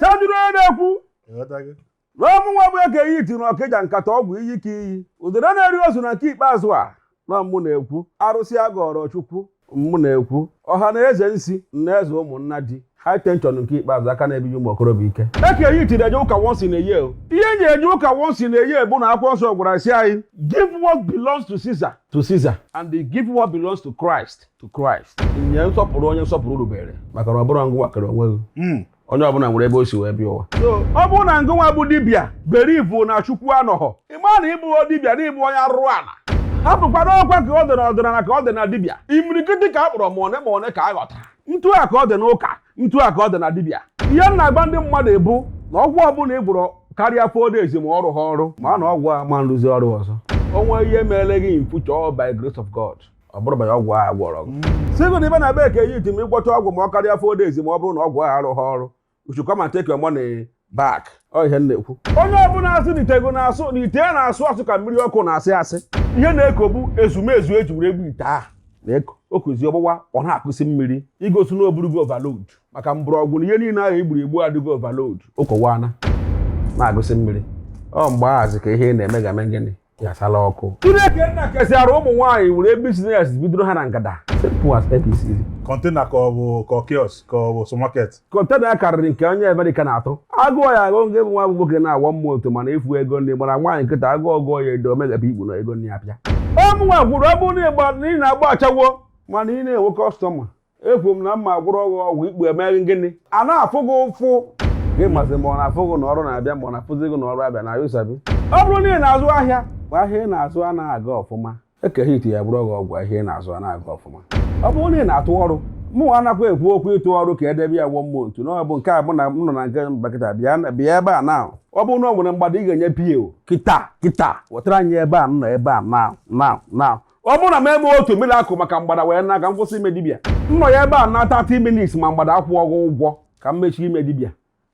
sajuru onye na-ekwu na ọ mụnwa bụ Eke Hit na Ọkịja nkata ọgwụ iyi ka iyi udele na-eri ozu na nke ikpeazụ a na mụ na-ekwu arụsị agọrọ chukwu mụ na-ekwu ọha na eze nsi na eze ụmụnna the high tension nke ikpeazụ aka na-ebi ụmụ okorobịa ike Eke Hit na-eje ụka once in a year ọ ihe m ji eje ụka once in a year bụ na akwụkwọ nsọ gwara sị anyị give what belongs to Caesar to Caesar and give what belongs to Christ to Christ nye nsọpụrụ onye nsọpụrụ rubere maka na ọ bụrọ ngụnwa kere onwe gị Mm. onye ọbụla nwere ebe o si wee bịa ụwa ọ bụrụ na ngụnwa bụ dibịa believe na chukwu anọghọ ịma na ị bụ dibịa na ị bụ onye arụrụ ala hapụkwara ọkwa ka ọ dị na ọdịnala ka ọ dị na dibịa imirikiti ka a kpọrọ ma one na one ka a ghọtara ntu a ka ọ dị n'ụka ntu a ka ọ dị na dibịa ihe m na-agwa ndị mmadụ bụ na ọgwụ ọbụla ị gwọrọ karịa four days ma ọ rụha ọrụ ma na ọgwụ a ma nrụzi ọrụ ọzọ o nwe ihe mere gị in future by grace of God ọ bụrụ banye ọgwụ ahụ gwọrọ gị sị gị na ị bịa na be Eke Hit ma ị gwọcha ọgwụ ma ọ karịa four days ma ọ bụrụ na ọgwụ ahụ arụghị ọrụ you should come and take your money back ọ ihe m na-ekwu onye ọbụla asị na ite ego na-asụ na ite ya na-asụ asụ ka mmiri ọkụ na-asị asị ihe na-eko bụ ezumezu eji were egbu ite ahụ na-eko okuzi ọgbụgba ọ na-akụsi mmiri igosi na o burugo overload maka mgbọrọgwụ na ihe niile ahụ egburu egbu adịgo overload ụkọwana na-agụsị mmiri ọ mgbe ahụzi ka ihe ị na-eme ga-eme gịnị gasala ọkụ chineke nna kesịara ụmụ nwaanyị were business bidoro ha na ngada simple as ABC container ka ọ bụ ka kiosk ka ọ bụ supermarket container karịrị nke onye America na-atụ agụọ ya agụ nke bụ nwa bụ nwoke na-agwa mmụọ otu mana efu ego ndị gbara nwaanyị nkịta agwọ ọgwụ ya edo o meghepụ ikpu na ego ndị apịa ọ mụnwa kwuru ọ bụrụ na ịgba na ị na-agba ashawo mana ị na-enwe customer ekwu m na m ga-agwọrọ gị ọgwụ ikpu emee gị gịnị a na-afụ gị ụfụ gị masị ma ọ na-afụ gị na ọrụ na-abịa ma ọ na-afụzi gị na ọrụ abịa na you sabi ọ bụrụ na ị na-azụ ahịa bụ ahịa ị na-azụ anaghị aga ọfụma Eke Hit ya-agwọrọ gị ọgwụ ahịa ị na-azụ anaghị aga ọfụma ọ bụrụ na ị na-atụ ọrụ mụ anakwa ekwu okwu ịtụ ọrụ ka edebe ya gwọ mmụọ ntu na ọ bụ nke a mụ na m nọ na nke mbakịta bịa ebe a na ọ bụrụ na ọ nwere mgbada ị ga-enye PO kịta kịta wetara anyị ebe a nọ ebe a na na na ọ bụrụ na m eme otu miracle maka mgbada wee na ka m kwụsị ime dibịa m nọ ya ebe a na 30 minutes ma mgbada akwụrọ gị ụgwọ ka m mechie ime dibịa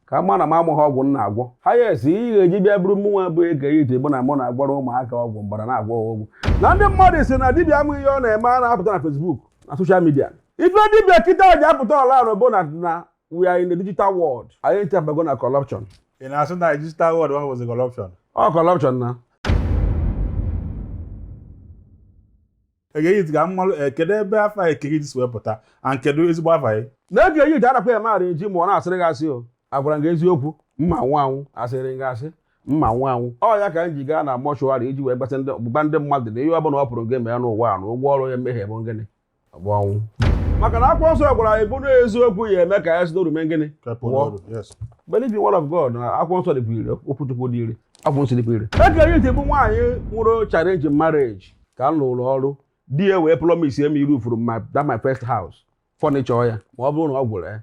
ka m ma na m amaghị ọgwụ m na-agwọ ha yes ihe ga-eji bịa bụrụ mụ nwa bụ Eke Hit bụ na mụ na-agwọrọ ụmụaka ọgwụ mgbada na-agwọ ha ọgwụ na ndị mmadụ sị na dibịa ma ihe ọ na-eme a na-apụta na Facebook na social media ife dibịa kịta ji apụta ọra bụ na na we are in the digital world anyị ncha abago na corruption ị na-asị na digital world ọ bụzi corruption ọ corruption na Eke Hit ga mmalụ eh, kedu ebe afa Eke Hit si wepụta and kedu ezigbo afa ya na Eke Hit arakwa ya maara eji ma ọ na-asịrị gị asị o agwara gị eziokwu m ga-anwụ anwụ asịrị gị asị m ga-anwụ anwụ ọ ya ka m ji gaa na mortuary iji wee gbata ndụ ọgbụgba ndụ mmadụ na ihe ọ bụla ọ pụrụ gị mee n'ụwa a na ụgwọ ọrụ ya mmehie bụ ngịnị ọ bụ ọnwụ maka na akwụkwọ nsọ gwara anyị bụrụ eziokwu ya eme ka ya si n'oru mee gịnị believe in word of God na akwụkwọ nsọ dịkwa ire okwu Chukwu dị ire akwụkwọ nsọ dịkwa ire Eke Hit bụ nwaanyị nwere challenge marriage ka m lụrụ ọrụ di ya wee promise m ị-roofuru that my first house furniture ya ma ọ bụrụ na ọ gwụrụ ya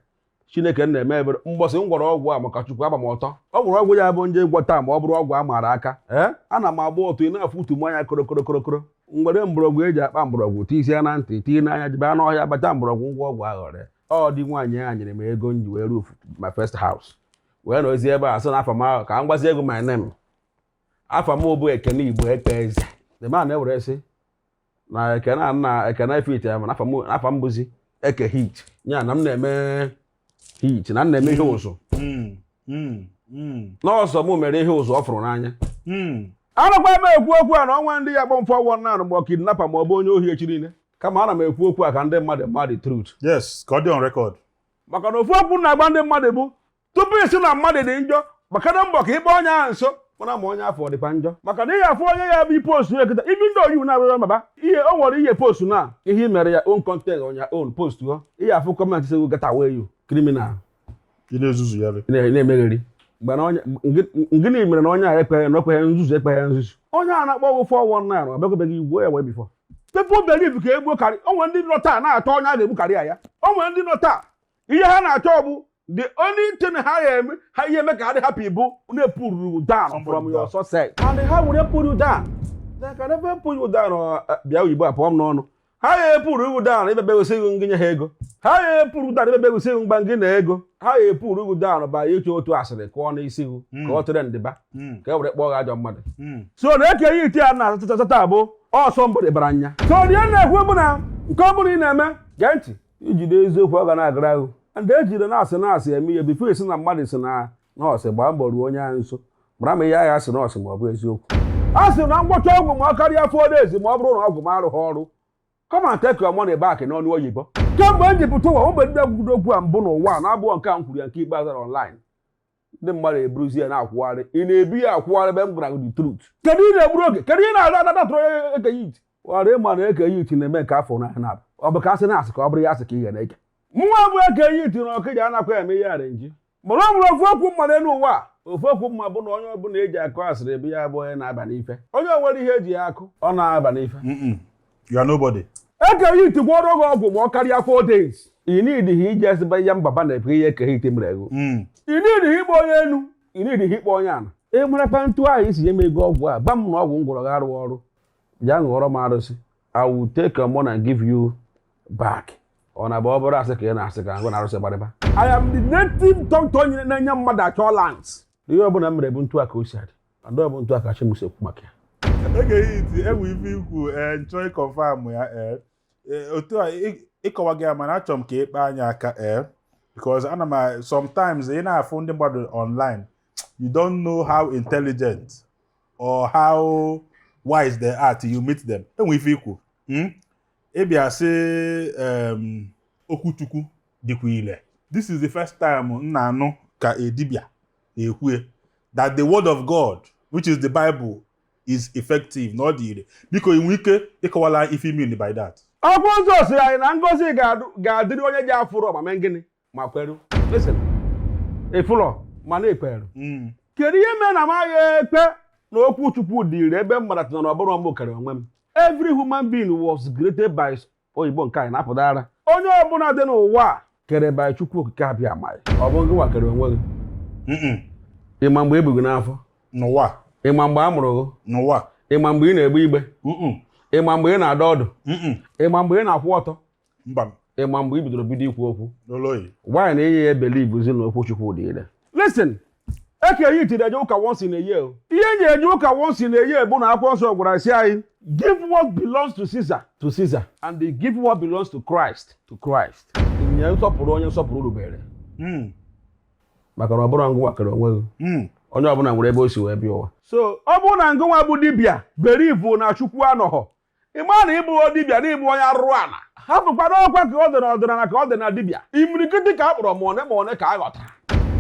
chineke na-eme ebere mbọsị m gwọrọ ọgwụ a maka chukwu agba m ọtọ gwọrọ ọgwụ ya bụ m jee ịgwọta ma ọ bụrụ ọgwụ a maara aka ee ana m agba ọtọ ị na-afụ utu m anya korokorokorokoro m were mgbọrọgwụ eji akpa mgbọrọgwụ tisie na ntị tii n'anya jebe n'ọhịa bata mgbọrọgwụ m gwọọ ọgwụ aghọrị ọ di nwaanyị a nyere m ego m ji wee roofuo my first house wee nọzie ebe a sị na afa m ahụ ka m gwazie gị my name afa m bụ Ekene Igboekweze the man e were sị na ekene a na ekene fit ya mana afa m afa m bụzi Eke Hit ya na m na-eme hit na m na-eme ihe ụzụ na ọ sọ m mere ihe ụzụ ọ fụrụ n'anya anakwa m ekwu okwu a na o nwere ndị ya-akpọ m 419 ma ọ kidnapper ma ọ bụ onye ohi echi niile kama ana m ekwu okwu a ka ndị mmadụ ma the truth yes ka ọ dị on record maka na ofu okwu m na-agwa ndị mmadụ bụ tupu ị sị na mmadụ dị njọ gbakene mbọ ka ị kpọ onye ahụ nso mara ma onye afụ ọ dịkwa njọ maka na ihe afọ onye ya bụ ị postuo ya kịta ibi ndị oyiwu na-abụghị baba ihe o nwere ihe postu na ihe i mere ya own content on your own post ọ ihe afọ comment sị get away you criminal ị na-ezuzu ya ị na-emegheri mgbe na onye ngịnị mere na onye a ekpeghị na okpeghị nzuzu ekpeghị nzuzu onye a na-akpọ gị 419 ọ bịakwabeghị igbo ya wee before people believe ka e gbuo career o nwere ndị nọ taa na-achọ onye ha ga-egbu career ya o nwere ndị nọ taa ihe ha na-achọ bụ the only thing ha ga-eme ha ya-eme ka ha dị happy bụ na e pull you down from your success and how will they pull you down they can never pull you down uh, uh, bịa oyibo apụọ m n'ọnụ ha ya e-pull you down maybe because ngị nye ha ego ha ya e-pull you down maybe because mgba ngị na ego ha ya e-pull you down by ịchọ otu otu asịrị kụọ n'isi gị hmm. ka ọ tụrụ ndịba hmm. ka e were kpọọ gị ajọ mmadụ hmm. so na Eke Hit ya na asatata bụ ọsọ mbụ dịbara anya so ihe m na-ekwu bụ na nke ọ bụla ị na-eme gee ntị i jide eziokwu ọ ga na-agara ahụ ndị ejidena a sị na a sị eme ihe before ị sị na mmadụ sị na ọ sị gbaa mbọ ruo onye ahụ nso mara ma ihe ahụ a sị na ọ sị ma ọ bụ eziokwu a sị na m gwọchaa ọgwụ ma ọ karịa four days ma ọ bụrụ na ọgwụ m arụghị ọrụ come and take your money back n'ọnụ oyibo kemgbe m ji pụta ụwa ọ mụ bụ dịbịa kwuru okwu a mbụ n'ụwa na-abụọ nke a m kwuru ya nke ikpeazụ online ndị mmadụ eburuzi ya na-akwụgharị ị na-ebu ya akwụgharị ebe m gwara gị the truth kedu ị na-egburu oge kedu ị na-ada ada datụrụ Eke Hit ọrụ ịma na Eke Hit na-eme nke afọ na na ọ bụ ka asị na asị ka ọ bụrụ ya asị ka ị ga na-eke mụnwa bụ Eke Hit na Okija anakwa eme ihe arrangee mana ọ bụrụ ofu okwu m ma n'elu ụwa a ofu okwu m ma bụ na onye ọbụla eji akụ asịrị ebe ya bụ onye na-aba n'ife onye nwere ihe eji ya akụ ọ na-aba n'ife You are nobody. Eke Hit gwọrọ gị ọgwụ ma ọ karịa four days. Ị needighị iji ezigbo ya mbaba na-ebu ihe Eke Hit mere ego. Mm. Ị needighị ịkpọ onye enu, ị needighị ịkpọ onye ana. Ị marakwa ntu ahụ i si nye m ego ọgwụ a, gwa m na ọgwụ m gwọrọ gị arụghị ọrụ. Bịa ṅụọrọ m arụsị. I will take your money and give you back. Ọ na-abụ ọ bụrụ asị ka ị na-asị ka ngụ na arụsị gbarịba. I am the native doctor onye na-enye mmadụ assurance. Ihe ọbụla m mere bụ ntu a ka o si adị. Ada bụ ntu a ka chi m si ekwu maka ya. Eke Hit enwe ife i kwu eh, nchọ ịkọnfam ya eh, eh, otu a ịkọwa gị ya mana achọrọ m ka ịkpa anya aka ee because ana m sometimes ị na-afụ ndị mmadụ online you don't know how intelligent or how wise they are till you meet them enwe ife i kwu hmm? ị bịa sị okwu Chukwu dịkwa ile this is the first time m na-anụ ka dibịa na-ekwu ya that the word of God which is the Bible is effective na ọ dị ire biko ị nwere ike ịkọwala ife ị mean by that akwụkwọ nsọ sịrị anyị na ngozi ga-adịrị onye ji afụrọ ma mee gịnị ma kweru listen ị fụlọ mana i kweru hmm. kedu ihe mere na m agha ekwe na okwu Chukwu dị ire ebe m maratana na ọ bụrọ m kere onwe m every human being was created by oyibo nke anyị na-apụtara onye ọbụla dị n'ụwa kere by Chukwu Okike Abịama ọ bụ gịnwa kere onwe gị ị ma mgbe e bu gị n'afọ n'ụwa ị ma mgbe a mụrụ gị n'ụwa ị ma mgbe ị na-egbe igbe ị ma mgbe ị na-adọ ọdụ ị ma mgbe ị na-akwụ ọtọ mba ị ma mgbe i bidoro bido ikwu okwu why na ị ya ebelievezi na okwu Chukwu dị ire listen Eke Hit na-eje ụka once in a year o. ihe e ji eje ụka once in a year bụ na akwụkwọ nsọ gwara sị anyị give what belongs to Caesar to Caesar and give what belongs to Christ to Christ nye nsọpụrụ onye nsọpụrụ rubere Mm, maka na ọ bụrọ ngụnwa kere onwe gị mm. onye ọbụla nwere ebe o si wee bịa ụwa so ọ bụrụ na ngụnwa bụ dibịa believe na Chukwu anọghọ ị ma na ị bụ dibịa na ị bụ onye arụrụ ala hapụkwana ọkwa ka ọ dị na ọdịnala ka ọ dị na dibịa imirikiti ka a kpọrọ ma one ma one ka a họtara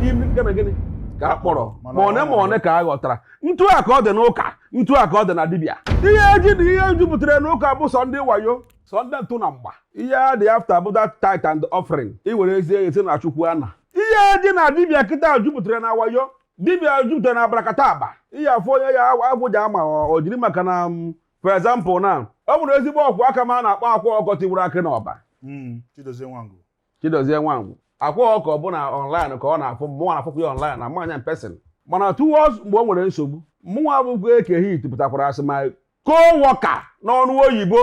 gịnị ka a kpọrọ ma one ma one ka a họtara ntu a ka ọ dị n'ụka ntu a ka ọ dị na dibịa ihe eji na ihe jupụtara n'ụka bụ sọ ndị wayo sọ ndị ntụ na mgba ihe a dị after bụ that tithe and offering i were ezie esi na Chukwu ana ihe eji na dibịa kịta jupụtara na wayo dibịa jupụtara na abracadabra ihe afọ onye ya agwụja ama o jiri maka na mm, for example na o nweru ezigbo ọkwụ aka m a na-akpọ Akwa Ọkụkọ Tiwara Akị n'Ọba hmm, Chidozie Nwangwu Chidozie Nwangwu Akwa Ọkụkọ bụ na online ka ọ na-afụ mụnwa na-afụkwa ya online amarọ m ya person mana towards mgbe o nwere nsogbu mụnwa bụkwa Eke Hit pụtakwara as my co-worker n'ọnụ oyibo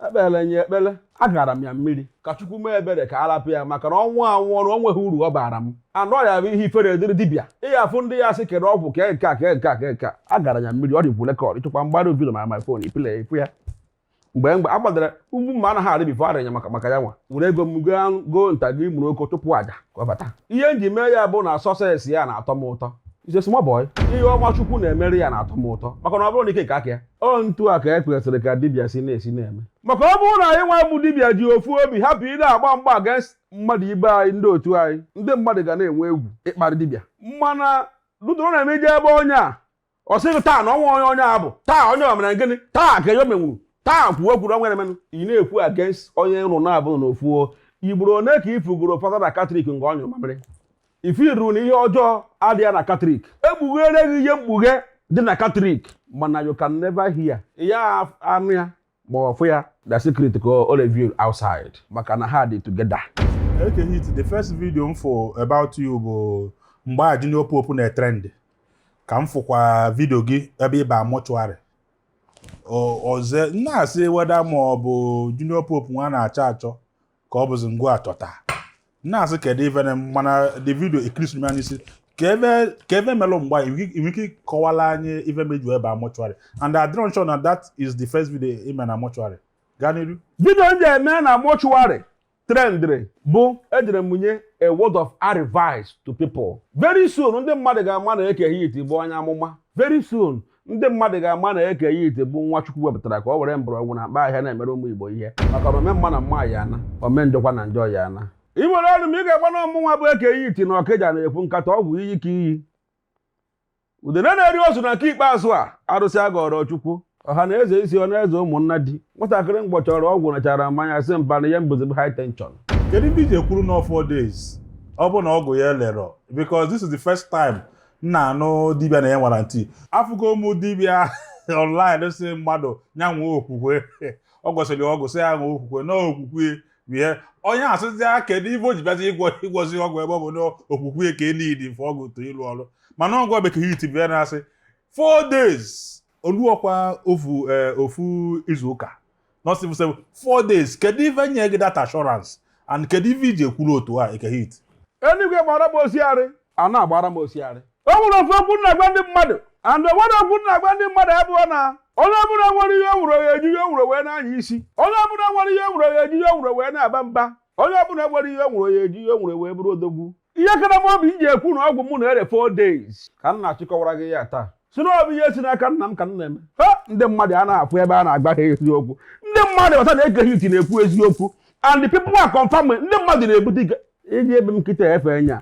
ekpele nye ekpele agara m ya mmiri ka chukwu mee ebere ka arapụ ya maka na ọ nwụọ anwụọ na o nweghị uru ọ bara m anụ ọrịa bụ ihe ifere dịrị dibịa ị ya-afụ ndị ya sị kere ọgwụ kee nke a kee nke a kee nke a agara ya mmiri ọ dịkwu record ịchekwa m gbara video ma my phone ipile ịfụ ya mgbe mgbe a gbadara ugwu mma anaghị arị before arịnya maka maka ya nwa were ego m goo anụ goo ntakịrị ọkụkọ chụpụ aja ka ọ bata ihe m ji mee ya bụ na success ya na-atọ m ụtọ He's a small boy ihe ọma chukwu na-emere ya na-atọ m ụtọ maka na ọ bụrụ na ike ka aka ya ọ otu a ka e kwesịrị ka dibịa si na-esi na-eme maka ọ bụrụ na anyị nwa bụ dibịa ji ofu obi hapụ ịna-agba mgba against mmadụ ibe anyị ndị otu anyị ndị mmadụ ga na-enwe egwu ịkparị dibịa mana dudoro na-eme ije ebe onye a ọ sị gị taa na ọnwa onye onye a bụ taa onye o mere gịnị taa ka enyo menwuru taa kwuo ekwuru ọnwa emenụ ị na-ekwu against onye nrụ na-abụ n'ofu igboro one ka ị fụgoro fada na katọlik nke ọ nyụ mamịrị ifiru na ihe ọjọọ adịghị na katọlik e kpugheere gị ihe mkpughe dị na katọlik mana you can never hear ya anụ ya ma ọ fụ ya the secret ka o reveal outside maka na ha dị together Eke Hit the first video m fụ about you bụ mgbe a Junior Pope na-trend ka m fụkwa video gị ebe ị ba mortuary ọzọ na-asị whether ma ọ bụ Junior Pope nwa na-achọ achọ ka ọ bụzi ngwa achọta na-asị kedu ife na mana the video ekirisi anya isi ka ebe ka ebe melụ mgba i nwe ike ịkọwala anyị ife me i ji wee ba mortuary and adịrọ m sure na that is the first video i me na mortuary gaa n'iru video m ji eme na mortuary trendịrị bụ ejere m nye a word of advice to people very soon ndị mmadụ ga-ama na Eke Hit bụ onye amụma very soon ndị mmadụ ga-ama na Eke Hit bụ nwa Chukwu wepụtara ka ọ were mgbọrọgwụ na mkpa ahịhịa na-emere ụmụ Igbo ihe maka na ome mma na mma ya ana ome njọkwa na njọ ya ana ị nwere ọrụ m ị ga-agba na ọ mụnwa bụ Eke Hit na Okija na-ekwu nkata ọgwụ iyi ka iyi udene na-eri ozu na nke ikpeazụ a arụsị agọrọ Chukwu ọha na eze isi ọ na-eze ụmụnna di nwatakịrị mgbọ chọrọ ọgwụ nachara mmanya si mba na ihe m bụzi bụ high tension kedu ihe i ji ekwuru na four days ọ bụ na ọgwụ ya elerọ because this is the first time m na-anụ dibịa na-enye warranty afụgo m ụmụ dibịa online sị mmadụ ya nwee okwukwe ọ gwọsịrị ọgwụ sị ya nwee okwukwe na okwukwe ihe onye asịzi ya kedu ife o ji bịazi ịgwọ ịgwọzi ọgwụ ebe ọ bụ na okwukwe ka e need-i for ọgwụ to lụọ ọrụ mana gịnwa bụ Eke Hit bịa na-asị four days o luokwa ofu eh, ofu izu ụka nọsịbụ sịbụ four days kedu ife nye gị that assurance and kedu ife i ji ekwuru otu a Eke Hit eluigwe gbara m osiarị a na-agbara m osiarị o nwere ofu okwu m na-agwa ndị mmadụ and o nwere okwu m na-agwa ndị mmadụ bụ na onye ọbụla nwere ihe o nwere ya eji ihe o nwere wee na-anya isi onye ọbụla nwere ihe o nwere ya eji ihe o nwere wee na-aba mba onye ọbụla nwere ihe o nwere ya eji ihe o nwere wee bụrụ odogwu ihe kara m obi iji ekwu na ọgwụ mụ na-ere 4 days ka m na-achịkọwara gị ya taa si na ọ bụ ihe si n'aka nna m ka m na-eme ha ndị mmadụ a na-afụ ebe a na-agba ha eziokwu ndị mmadụ aghọta na Eke Hit na-ekwu eziokwu and the people are confirming ndị mmadụ na-ebute ite i je be m kịta efe nya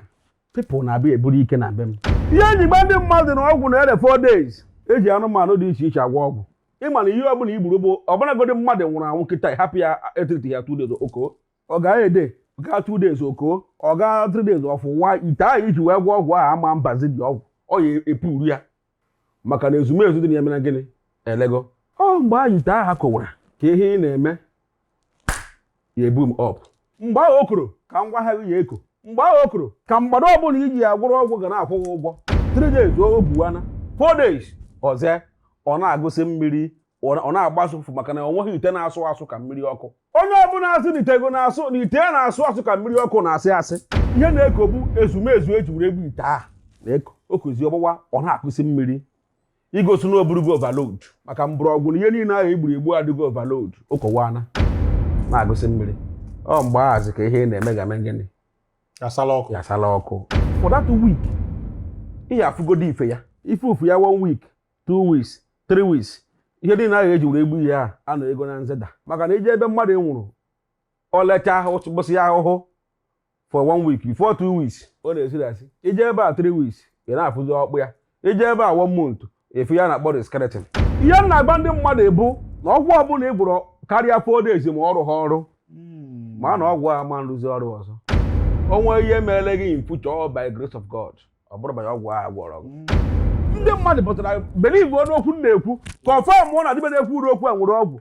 people na-abịa eburu ite na be m ihe eji gba ndị mmadụ na ọgwụ na-ere 4 days eji anụmanụ dị iche iche agwọ ọgwụ ị ma na ihe ọbụla i gburu bụ ọbụlagodi mmadụ nwụrụ anwụ kịta hapụ ya etriti ya two days o koo ọ gaa a day gaa two days o koo ọ gaa three days ọ fụwa ite ahụ i ji wee gwọ ọgwụ ahụ ama mbazi dị ọgwụ ọ ya epuru ya maka na ezumezu dị na ya mere gịnị elego ọ mgbe ahụ ite ahụ kowara ka ihe ị na-eme ya eboom up mgbe ahụ o koro ka ngwa ahụ ya eko mgbe ahụ o koro ka mgbada ọbụla i ji ya gwọrọ ọgwụ ga na-akwụ gị ụgwọ three days o buwana four days ọzọ ọ na-agụsị mmiri ọ na-agbasụ ụfụfụ maka na ọ nweghị ite na-asụ asụ ka mmiri ọkụ onye ọbụla asị na ite ego na-asụ na ite ya na-asụ asụ ka mmiri ọkụ na-asị asị ihe na-eko bụ ezumezu eji were egbu ite ahụ na-eko o kozi ọgbụgba ọ na-agụsị mmiri igosi na o burugo overload maka mgbọrọgwụ na ihe niile ahụ egburu egbu adịgo overload o kowana na-agụsị mmiri ọ mgbe ahụzi ka ihe na-eme ga-eme gịnị yasala ọkụ for that week ị hapụgodu ife ya ife ofu ya one week two weeks three weeks ihe niile ahụ eji were egbu ihe a a na ego na-ezida maka na i je ebe mmadụ nwụrụ o lechaa ahụ gbụsị ya ahụhụ for one week before two weeks ọ na-esi isi i je ebe a three weeks ị na-afụzi ọkpụ ya i je ebe a one month ị fụ ya na-akpọ skeleton ihe m na-agba ndị mmadụ bụ na ọgwụ ọbụla ị gwọrọ karịa four days ma ọ rụha ọrụ hmm. ma na ọgwụ a ma nrụzi ọrụ ọzọ o nwee ihe meele gị in future ọ by grace of God ọ bụrọ banye ọgwụ a gwọrọ gị hmm. ndị mmadụ pụtara believe n'okwu m na-ekwu confirm na dibịa na-ekwu uru okwu a nwere ọgwụ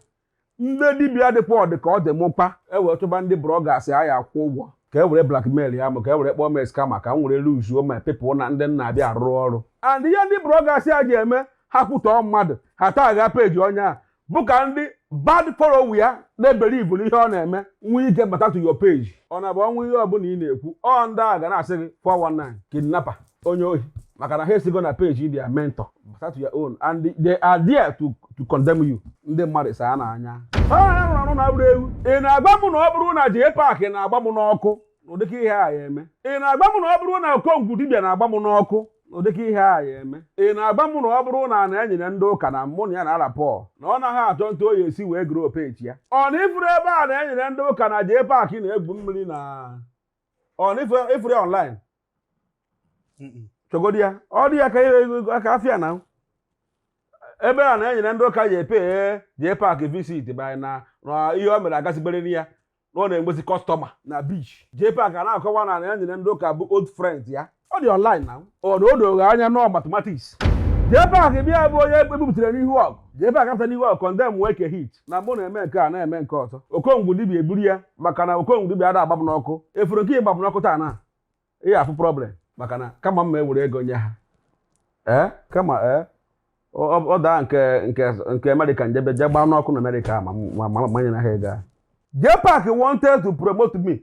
ndị dibịa dịkwa ọ dị ka ọ dị mkpa e were chọba ndị bloggers a ya akwụ ụgwọ ka e were blackmail ya ma ka e were kpọọ m scammer ka m were luzuo my people na ndị na-abịa arụrụ ọrụ and ihe ndị bloggers a ji eme ha kwutọọ mmadụ ha tagịa page onye a bụ ka ndị bad follow ya na-ebelieve n'ihe ọ na-eme nwee ike bata to your page ọ na-abụ o nwee ihe ọbụla ị na-ekwu ọ ndị a ga na-asị gị 419 kidnapper onye ohi maka na ha esigo na page their mentor bata your own and they are there to to condemn you ndị mmadụ ịsa ha n'anya ha rụrụ arụ na bụrụ ewu ị na-agba m na ọ bụrụ na jee paakị na-agba m n'ọkụ n'ụdịka ihe a ya eme ị na-agba m na ọ bụrụ na okongwu dibịa na-agba m n'ọkụ n'ụdịka ihe a ya eme ị na-agba m na ọ bụrụ na a na-enyere ndị ụka na mụ na ya na-arapport na ọ naghị achọ etu ọ ya-esi wee gruo page ya ọ na ị fụrụ ebe a na-enyere ndị ụka na jee paakị na-egwu mmiri na ọ na ị fụrụ ya online chọgodi ya ọ dị ya ka afịa na ebe a na-enyere ndị ụka ji epe Jpac visit by na na ihe o mere agasịberịrị ya na ọ na-enwezi customer na beach Jpac a na-akọwa na a na-enyere ndị ụka bụ old friends ya ọ dị online na ọ na o doro anya nọ mathematics Jpac bịa bụ onye ebubutere n'ihu ọgụ Jpac apụta n'ihu ọgụ condemn eke hit na mụ na-eme nke a na-eme nke ọzọ okongwu dibia eburu ya maka na okongwu dibia ada agbam n'ọkụ ị fụrụ nke ịgbam n'ọkụ taa na ihe afụ problem maka na kama m ma ewere ego nye ha ee kama ee ọ daa nke nke nke America njebe jee gbaa n'ọkụ na America ma manye na ha ego a Jpac wanted to promote me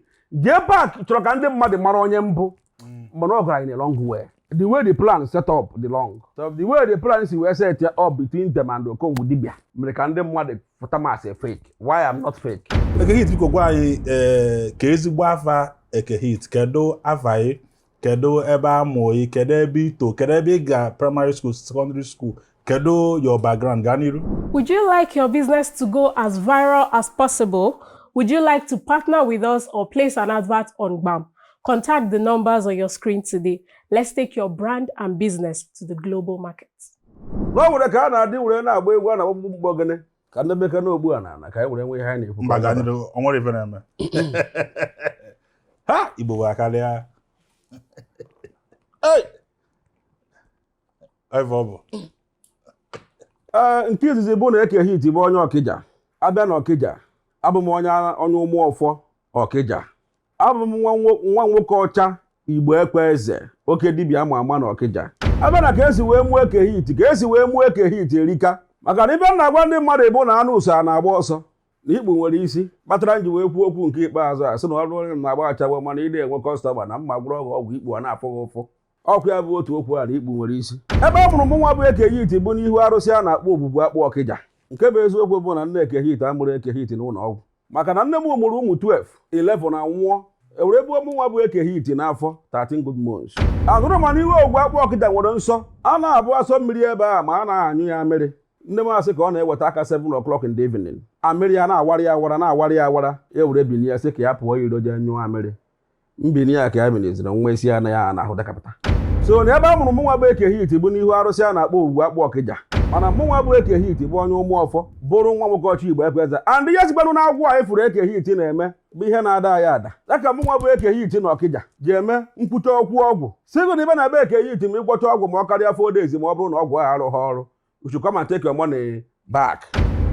Jpac chọrọ ka ndị mmadụ mara onye m bụ mm. mana ọ gara in a wrong way the way the plan set up dị wrong so the way the plan si wee set up between them and Okongwu dibia mere ka ndị mmadụ pụta ma sị fake while am not fake Ekehit biko gwa anyị eh, kee ezigbo afa Ekehit kedu afa gị kedu ebe a mụ gị kedu ebe i to kedu ebe ị ga primary school secondary school Kedu your background gaa n'iru? Would you like your business to go as viral as possible? Would you like to partner with us or place an advert on GBAM? Contact the numbers on your screen today. Let's take your brand and business to the global market. Na nwere ka a na-adị were na-agba egwu a na ọgbụgbụ mgbọ gịnị ka ndị meka na ogbu a na ana ka anyị were nwee ihe anyị na-ekwu. Mba gaa n'iru, o nwere ife na-eme. Ha! Igbo bụ akarịa. Hey! ebe ọ bụ ee nke izizi bụ na eke hit bụ onye ọkịja abịa na ọkịja abụ m onye ara- onye ụmụ ọfọ ọkịja abụ m nwa nwo- nwa nwoke ọcha igbo ekwe eze oke dibịa ama ama na ọkịja abịa na ka esi wee mụọ eke hit ka esi wee mụọ eke hit erika maka na ibe m na-agwa ndị mmadụ bụ na anụ usa na-agba ọsọ na ikpu nwere isi kpatara m ji wee kwuo okwu nke ikpeazụ a sị na ọ bụrụ onye na-agba ashawo mana ị na-enwe customer na m ma gwọrọ ọgwụ ọgwụ ikpu a na-afụ gị ụfụ ọkụ ya bụ otu okwu a na ikpu nwere isi ebe a mụrụ mụnwa bụ ekehit bụ n'ihu arụsị a na-akpọ ogwugwu akpụ ọkịja nke bụ eziokwu bụ na nne ekehit amụrọ ekehit n'ụlọ ọgwụ maka na nne m mụrụ ụmụ 12 11 anwụọ ewere ebu mụnwa bụ ekehit n'afọ 13 good months ahụrụ ma n'ihu ogwugwu akpụ ọkịja nwere nsọ a na-abụ asọ mmiri ebe a ma a na-anyụ ya mmiri nne m asị ka ọ na-eweta aka 7 o'clock in the evening amịrị ya na-awara ya awara na-awara ya awara ya were binie sị ka ya pụọ iro jee nyụọ amịrị mbini ya ka ya biniziri nwa isi ya na ahụ dakapụta so na ebe a mụrụ mụnwa bụ eke hit bụ n'ihu arụsị a na-akpọ ogwugwu akpụ ọkịja mana mụnwa bụ eke hit bụ onye ụmụ ọfọ bụrụ nwa nwoke ọcha igbo ekweze and ihe sikwanụ na agwụ a ị fụrụ eke hit na-eme bụ ihe na-ada ya ada ya ka mụnwa bụ eke hit na ọkịja ji eme nkwucha okwu ọgwụ sigụ na ibe na be eke hit ma ịgwọcha ọgwụ ma ọ karịa four days ma ọ bụrụ na ọgwụ ahụ arụghị ọrụ you should come and take your money back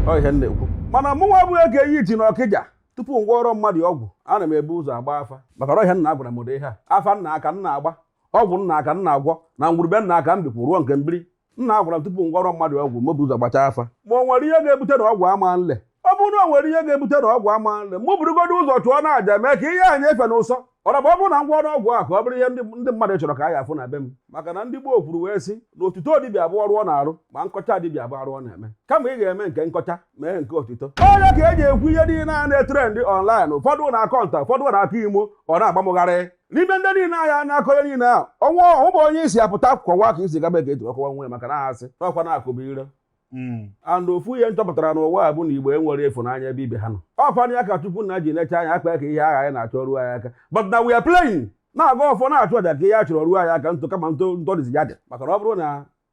ọ ihe m na-ekwu mana mụ nwa bụ Eke Hit na Ọkịja tupu m gwọrọ mmadụ ọgwụ ana m ebu ụzọ agba afa maka ọrọ ihe nna m gwara m ụdị ihe a afa nna m ka m na-agba ọgwụ nna m ka m na-agwọ na ngwuru be nna m ka m bikwu rụọ nke m biri nna m gwara m tupu m gwọrọ mmadụ ọgwụ m bu ụzọ gbacha afa ma o nwere ihe ga-ebute na ọgwụ ama nle ọ bụrụ na o nwere ihe ga-ebute na ọgwụ ama nle mụ burugodo ụzọ chụọ na aja mee ka ihe a nyefe na ụsọ ọra bụ ọ bụrụ na m gwọrọ ọgwụ a ka ọ bụrụ ihe ndị mmadụ chọrọ ka a ya afụ na be m maka na ndị gboo kwuru wee sị na otuto dibịa bụ ọrụ ọ na-arụ ma nkọcha dibịa bụ arụ ọ na-eme kama ị ga-eme nke nkọcha mee nke otuto ọ ya ka e ji ekwu ihe niile a na-etrend online ụfọdụ na-akọ nta ụfọdụ na-akọ imo ọ na-agba m gharịị n'ime ndị niile ahụ na-akọ ihe niile ahụ ọnwa ọhụbụ onye isi apụta kọwa ka isi gaba ga-eji ọkọwa nwe maka na a sị n'ọkwa na-akụbụ ire hmm. and ofu ihe m chọpụtara n'ụwa a bụ na igbo enwerọ ịfụnanya ebe ibe ha nọ ọkwanụ ya ka chukwu nna ji necha anya akpa ka ihe ahụ anyị na-achọ ruo anyị aka but na we are praying na-agọ ọfọ na-achụ aja ka ihe a chọrọ ruo anyị aka ntụ kama ntụ ntọdịzi ya dị maka na ọ bụrụ na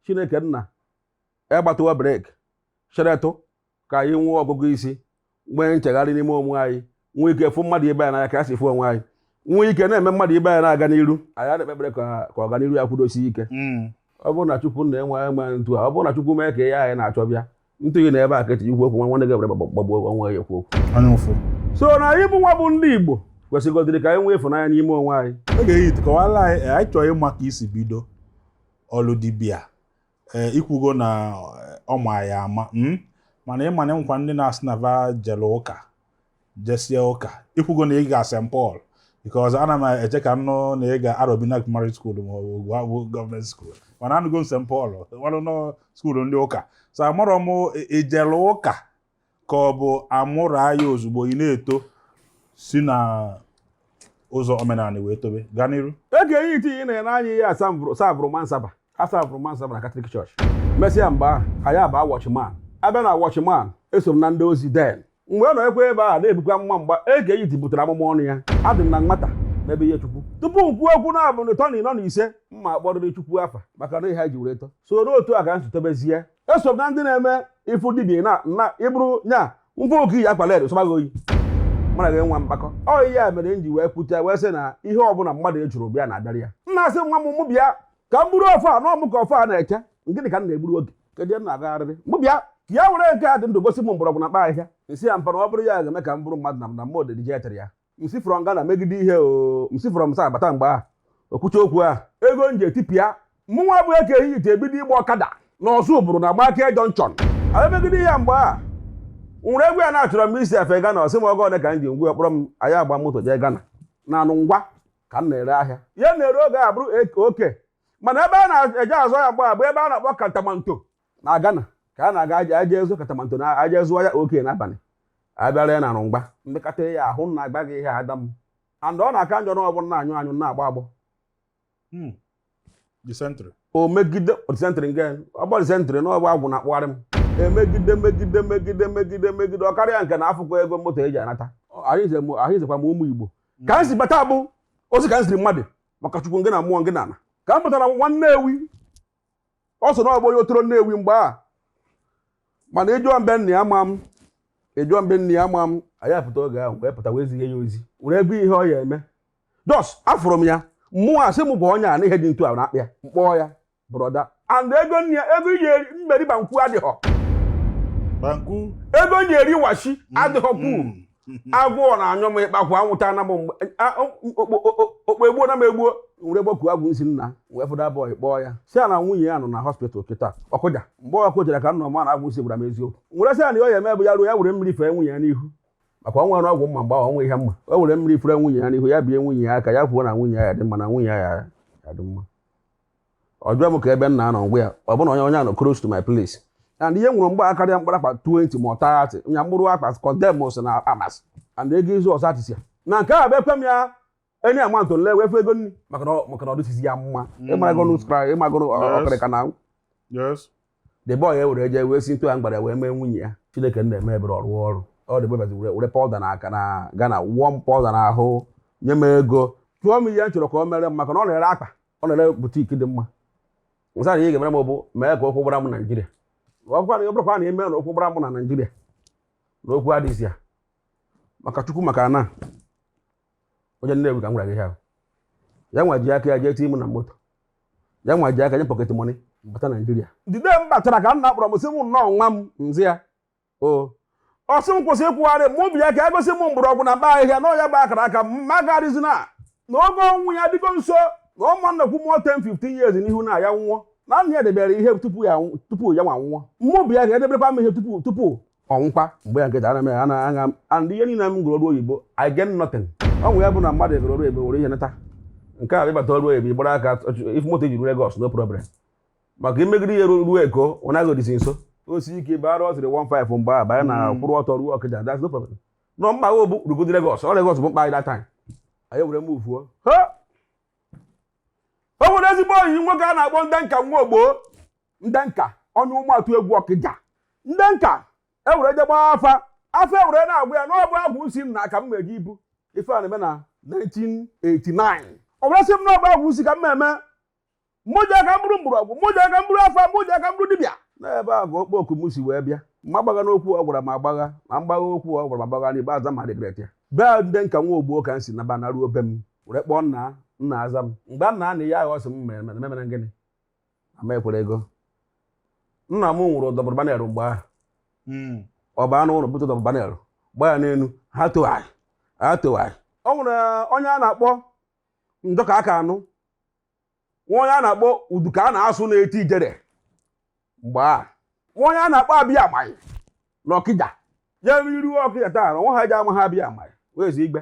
chineke nna egbatawa brake cheretụ ka anyị nwee ọgụgụ isi nwee nchegharị n'ime onwe anyị nwee ike fụ mmadụ ibe anyị n'anya ka a si fụ onwe anyị nwee ike na-ene mmadụ ibe anyị na-aga n'iru anyị na-ekpe ekpere ka ọganiru ya kwudosi ike hmm. ọ bụrụ na Chukwu nna enwe eme ntu a ọ bụrụ na Chukwu mee ka ihe anyị na-achọ bịa ntụ gị na ebe a ka etinye ikwu okwu nwa nwanne gị ebere gbagbuo onwe ya ekwu okwu so na anyị bụ nwa bụ ndị Igbo kwesịgodịrị ka anyị nwee ịfụnanya n'ime onwe anyị Eke Hit kọwala anyị anyị chọọ ịma ka i si bido ọlụ dibịa ee i kwugo na ọ ma ya ama mm? mana ị ma na e nwekwa ndị na-asị na va jere ụka jesie ụka i kwugo na ị ga St Paul because ana m eche ka m nụ na ị ga Arobina Primary School ma ọ bụ Ogwugwu government school mana anụgo m St Paul ọ bụnụ school ndị ụka so amarọ m i jere ụka ka ọ bụ a mụrụ ya ozugbo ị na-eto si na ụzọ omenala wee tobe gaa n'iru Eke Hit ị na-ene anya ihe a serveburu mass server aserveburu m mass server na Catholic church mesịa mgbe ahụ anyị aba Watchman abịa na Watchman eso m na ndị ozi then mgbe ọ nọ ekwe ebe a na-ebukwa amụma mgbe Eke Hit butere amụma ọnụ ya adị m na nwata n'ebe ihe chukwu tupu m kwuo okwu naabọ n'ịtọ n'ịnọ na ise m ga-akpọrịrị chukwu afa maka na ihe ha ji were too so otu a ka m si tobezie eso m na ndị na-eme ife dibia na na ị bụrụ nya mfe Eke Hit akwa led sọbaghị oyi mara gị nwa mkpakọ ọ ihe a mere m ji wee pụta wee sị na ihe ọbụla mmadụ ejụrụ bịa na-abịara ya nna m sị nwa m mụ bịa ka m buru ọfọ a na ọ mụ ka ọfọ a na-eche gịnị ka m na-egburu oge kedu ihe m na-agagharịrị mụ bịa ka ya were nke a dị ndụ gosi m mgbọrọgwụ na mkpa ahịhịa m sị ya mpa na ọ bụrọ ya ga-eme ka m bụrụ mmadụ na m na mma odidije etere ya m si from Ghana megide ihe o m si from SA bata mgbe a okwucha okwu a ego m ji etipịa mụnwa bụ Eke Hit ebido ịgba ọkada na Ozubulu na gbakee junction anyị megide ihe mgbe a nwere egwu ya na-achọrọ m isi efe Ghana ọ sị m ọ ego ole ka m ji ngwa kpọrọ m anyị aba moto jee Ghana na Nungua ka m na-ere ahịa ihe m na-ere oge a bụrụ OK mana ebe a na-eje azụ ya mgbe a bụ ebe a na-akpọ Kantamanto na Ghana ka a na-aga aja aja ezu katamanto na aja zụọ ya oke n'abalị abịara ya na rụmgba mmekọta ya ahụ na agba gị ihe ada m and ọ na-aka njọ na ọ bụrụ na-anyụ anyụ na-agbọ agbọ hmm. o megide dysentery nke ọ bụ dysentery na ọ bụ agwụ na-akpagharị m emegide megide megide megide megide ọ karịa nke na afụrọ ego moto eji anata ahụ izekwa m ụmụ Igbo hmm. ka m si bata bụ ozi ka m ziri mmadụ maka chukwu ngị na mmụọ ngị na ana ka m pụtara nwa Nnewi ọ sị na ọ bụ onye Otolo Nnewi mgbe a mana ị jụọ m be nna ya ama m ị jụọ m be nna ya ama m anyị apụta oge ahụ wee pụta wee zie ya ozi were ebe ihe ọ ya-eme just afụrụ m ya mmụọ asị m kpọọ onye a na ihe dị ntu a na-akpa ya m kpọọ ya brother and ego nne ya ego iji eri mmeri banku adịghọ Banku. ego m ji eri waakye adịghọ kwuu Mm. agụụ na-anyụ m ịkpakwụ anwụta na m okpo egbuo na m egbuo were gbaku agwụ nsi nna wee fụta boy kpọọ ya sị ya na nwunye ya nọ na hospital kịta ọ kụja mgbe ọ kụjara ka m nọ ma na agwụ nsi gwara m eziokwu were sị ya na ihe ọ ya-eme bụ ya ruo ya were mmiri fee nwunye ya n'ihu maka o nwerọ ọgwụ m ma mgbe ahụ o nwerọ ihe m ma o were mmiri fere nwunye ya n'ihu ya bie nwunye ya aka ya kwuo na nwunye ya dị mma na nwunye ya ya-adị mma ọ jụọ m ka ebe m na-anọ m gwa ya ọ bụrụ na onye onye a nọ close to my place and ihe o nwere mgbe a karịa mkpụrụ akpa 20 ma ọ 30 nya mkpụrụ akpa condemns na amasị and ego izu ọzọ atịsị ya na nke a bụ ekwe m ya enye ya mantụ nle wee fụ ego nri maka na ọ- maka na ọ dịsizi ya mma ịmarago n'ụsụkara ịmagoro okrika na Yes. the boy ewere jee wee si ntu a m gwara wee mee nwunye ya Chineke nna emee ebere ọ rụọ ọrụ ọ dị bebazi were were powder na aka na Ghana wụọ m powder na ahụ nye m ego jụọ m ihe m chọrọ ka o mere m maka na ọ na-ere akpa ọ na-ere boutique dị mma m sị ya na ihe ọ ga-emere m bụ mee ka ụkwụ gbara m naijiria ọ bụkwa na ọ bụrụkwa na ị mee na ụkwụ gbara m na naijiria na okwu adịghịzi ya maka chukwu maka na onye Nnewi ka m gwara gị ihe a ya nwa ji aka ya jee tii m na moto ya nwa ji aka nye m pocket money m bata naijiria the day m batara ka nna kpọrọ m sị m nnọọ nwa m m zaa ya o ọ sị m kwụsị ịkwụgharị mụ bịa ka e gosi m mgbọrọgwụ na mkpa ahịhịa na ọ ya bụ akara aka m marazie na na oge ọnwụ ya dịgo nso na ọ ma nọkwu more 10 15 years n'ihu na ya nwụọ na nna ya debere ihe tupu ya nwa nwụọ mụ bịa ka e debekwa m ihe tupu tupu ọ nwụkwa mgbe ya nketa ana m ana aṅa m and ihe niile m gụrụ ọrụ oyibo I get nothing ọ nwụ ya bụ na mmadụ egoro ọrụ oyibo were ihe nata nke a ị bata ọrụ oyibo ị gbara aka if moto ejiri Lagos no problem maka i megide ihe ruo Eko ọ naghị odisi nso osi ike bara ọ sịrị 15 mgbe a banye na hmm. kwụrụ ọtọ ruo Okija that's no problem na mkpa bụ rugodi Lagos ọ Lagos bụ mkpa anyị that time anyị were m ufuo o nwere ezigbo ọyị nwoke a na-akpọ Ndụka nwa Ogbo ndenka onye ụmụatụegwu ọkịja ndenka ewere je gbaa afa afa ewere na-agwa ya na ọ bụ agwụ nsị ka m meje ibu ife a na-eme na 1989 ọ bụrụ sị m na ọ bụ agwụ nsị ka m na-eme mụ ji aka m bụrụ mgbọrọgwụ mụ ji aka m bụrụ afa mụ ji aka m bụrụ dibịa n'ebe a ka okpo oku m si wee bịa m agbagha n'okwu ọ gwara m agbagha na mgbagha okwu ọ gwara m agbagha n'ikpeazụ m a-regret ya be ndenka nwa ogbo ka m si naba naruo be m were kpọọ nna nna aza m mgbe nna na ya aghọsị m mere mere gịnị ama ekwerego nna m nwere double barrel mgbe ahụ hmm. ọ baa n'ụlọ bute double barrel gba ya n'elu ha towagharị ha towagharị o nwere onye a na-akpọ ndụka aka anụ nwee onye a na-akpọ uduka a na-asụ na-eti ijere mgbe a nwee onye a na-akpọ abịa amaghị na ọkịja ya i ruo ọkịja taa na nwa ha ji ama ha abịa amaghị wee zi igbe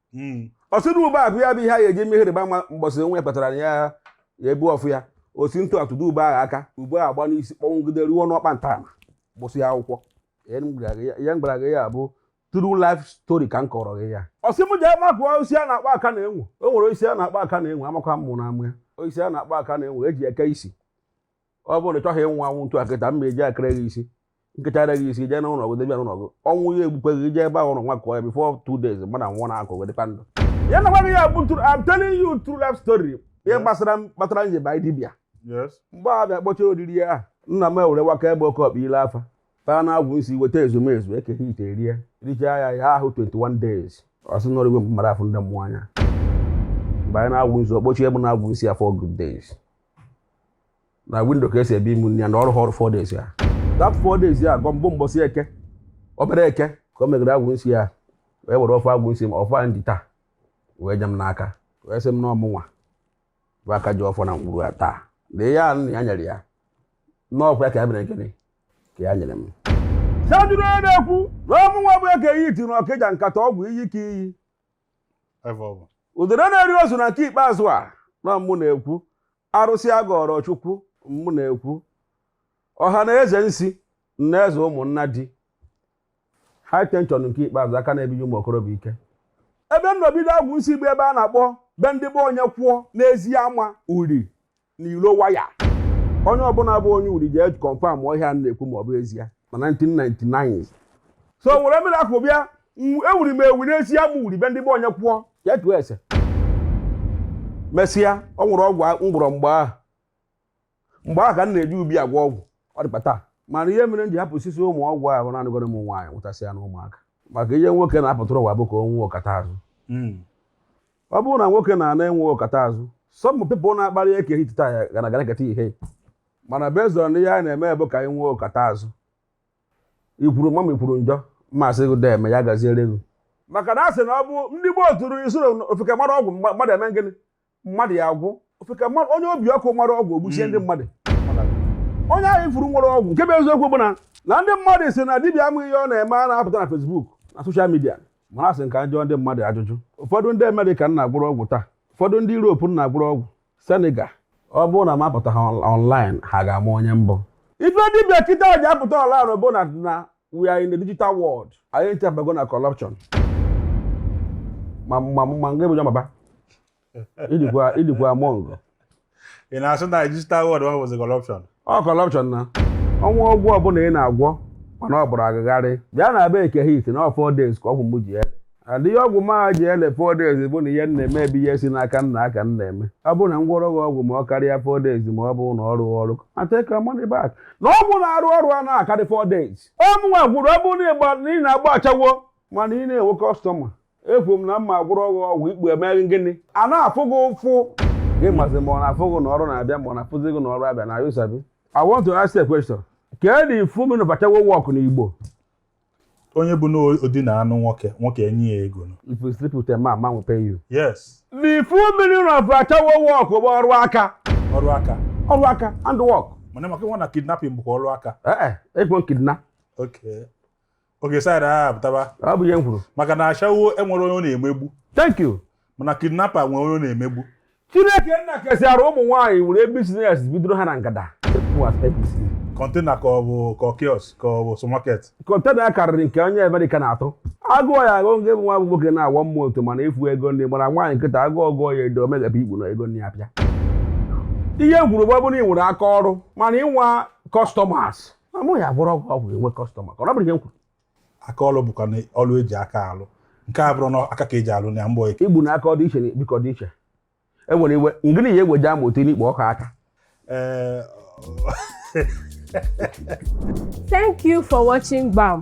hmm. ọ sị na ube a bụ ya bụ ihe a ga-eji eme ihe ịrịba ama mbọsị onwe ya kpatara ya ya ebu ọfụ ya ọ sị m tụ atụdo ube ahụ aka ube ahụ agba n'isi kpọnwụgide ruo n'ọkpa ntama gbụsịa akwụkwọ ya m gwara gị ya bụ true life story ka m kọrọ gị ya ọ sị m jee makụọ osisi a na-akpọ aka na-enwe o nwere osisi a na-akpọ aka na-enwe amakwa mmụ na amụ ya osisi a na-akpọ aka na-enwe eji eke isi ọ bụrụ na ị chọghị ịnwụ anwụ ntu akịta m eji ekere gị isi m kechara gị isi jee n'ụlọ gị debia n'ụlọ gị ọnwụ ya egbukwe gị jee ebe ahụ ụlọ nwa kọọ ya before two days mụ na nwa na-akụ gị dịkwa ndụ ya na-agwa gị ya bụ true I'm telling you true life story ihe gbasara kpatara m ji ba dibịa mgbe a bịa kpọcha oriri ya nna m ewere waka ebe oke ọkpa ile afa taa na agwụ nsị weta ezumezu eke hit erie richaa ya ya ahụ 21 days ọ sị nọrọ igwe mmadụ afụ ndị mmụọ anya mgbe anyị na-agwụ nzu ọ kpọchibe n'agwụ nsị four good days na window ka esi ebunye mụ nri ya na ọrụ ha ọrụ four days ya that four days ya gọ mbụ mbọsị eke obere eke ka o meghere agwụ nsị ya wee were ọfọ agwụ nsị ma ọfọ a m ji taa wee nye m n'aka wee sị m na ọ mụnwa bụ aka ji ọfọ na ngwuru ya taa na ihe a nna ya nyere ya na ọ kwa ya ka ya mere gịnị ka ya nyere m so ejiri ya na-ekwu na ọ mụnwa bụ eke hit na ọkịja nkata ọgwụ iyi ka iyi udere na-eri ozu na nke ikpeazụ a na mụ na-ekwu arụsị agọrọ chukwu mụ na-ekwu ọha na eze nsi na eze ụmụnna the high tension nke ikpeazụ aka na-ebiji ụmụ okorobịa ike ebe m nọ bido agwụ nsị bụ ebe a na-akpọ be ndibe onyekwụọ n'eziama uri n'ilo waya onye ọbụla bụ onye uri jee confirm ihe a na-ekwu ma ọ bụ ezie na 1999 so were mmiri akụ bịa ewuri m ewu n'eziama uri be ndibe onyekwụọ ya tụọ ese mesịa o nwere ọgwụ m gwọrọ mgbe ahụ mgbe ahụ ka m na-eji obi agwọ ọgwụ ọ dịkwa taa mana ihe mere m ji hapụsịzị ụmụ ọgwụ ahụ bụ na anụgoro m nwaanyị nwetasịa na ụmụaka maka ihe nwoke na-apụtara ụwa bụ ka o nwee ọkata azụ hmm. ọ bụrụ na nwoke na-ana enwe ọkata azụ some people na-akparị eke hit taa ya gana gara keta ihe mana based on ihe anyị na-eme bụ ka anyị nwee ọkata azụ i kwuru m mma i kwuru njọ m asị gị deeme ya gaziere gị maka na a sị na ọ bụ ndị gboo tụrụ ilu sị ofeke mara ọgwụ mgba- mmadụ eme gịnị mmadụ ya agwụ ofeke mmadụ onye obi ọkụ mara ọgwụ ogbuchie ndị mmadụ onye ahụ ị fụrụ nwere ọgwụ nke bụ eziokwu bụ na na ndị mmadụ sị na dibịa ma ihe ọ na-eme anaghị apụta na Facebook na social media mana a sị ka a jụọ ndị mmadụ ajụjụ ụfọdụ ndị amerịka m na-agwọrọ ọgwụ taa ụfọdụ ndị europe m na-agwọrọ ọgwụ senegal ọ bụrụ na m apụtaha online ha ga-ama onye m bụ ife dibịa kịtaa ji apụta online bụ na na we are in the digital world anyị ncha abago na corruption ma ma ma nga ebuja maba ị dịkwa among ị na-asị na digital world ọ bụzi corruption ọ corruption na o nwe ọgwụ ọbụla ị na-agwọ mana ọ bụrụ a gagharịa bịa na be eke hit na four days ka ọgwụ m ji ele adịghị ọgwụ m ji ele four days bụ na ihe m na-eme bụ ihe si n'aka nna ka m na-eme ọ bụrụ na m gwọrọ gị ọgwụ ma ọ karịa four days ma ọ bụ na ọ rụghị ọrụ take your money back na ọgwụ na-arụ ọrụ anaghị akarị four days ọ mụnwa gwọrọ ọ bụrụ na ị na-agba ashawo mana ị naghị enwe customer ekwu m na m ma agwọrọ ọgwụ ọgwụ ikpu emeghị gịnị a na-afụ gị ụfụ gị mazi ma ọ na-afụ gị na ọrụ na-abịa ma ọ na-afụzi gị na ọrụ abịa na you sabi I want to ask a question kedu the full meaning of ashawo work n'Igbo onye bụ na o dinaa nụ nwoke nwoke enye ya ego if you sleep with a man man will pay you yes the full meaning of ashawo work bụ ọrụ aka ọrụ aka ọrụ aka handwork mana ị makwa na kidnapping bụkwa ọrụ aka ee eh, eh, ekwe kidnap okay oge side a apụtaba ọ bụ ihe m kwuru maka na ashawo enwerọ onye ọ na-emegbu thank you mana kidnapper nwere onye ọ na-emegbu chineke nna kesịara ụmụ nwaanyị were business bidoro ha na ngada mụ as apc container ka ọ bụ ka ọ kiosk ka ọ bụ supermarket container karịrị nke onye amerịka na-atụ agụụ ya agụ nke bụ nwa bụ nwoke na-awọ mmụọ ọtụ mana efu ego ndị gbara nwaanyị nkịta agụụ gụọ ya edo o meghepụ ikpu nara ego ndị ya pịa ihe m kwuru bụ ọ bụrụ na ị nwere aka ọrụ mana ị nweghị customers m ya agwọrọ gị ọgwụ ọgwụ inwe customer na ọ bụrụ ihe m kwuru aka ọlụ bụkwa na ọlụ e ji aka alụ nke a bụrụ na aka ka e ji alụ na mbọ ike igbu na aka ọ dị iche na bikọ dị iche e nwere iwe ngịnị ya eweji amụ etinye n'ikpu ọkwa aka ee Thank you for watching BAM.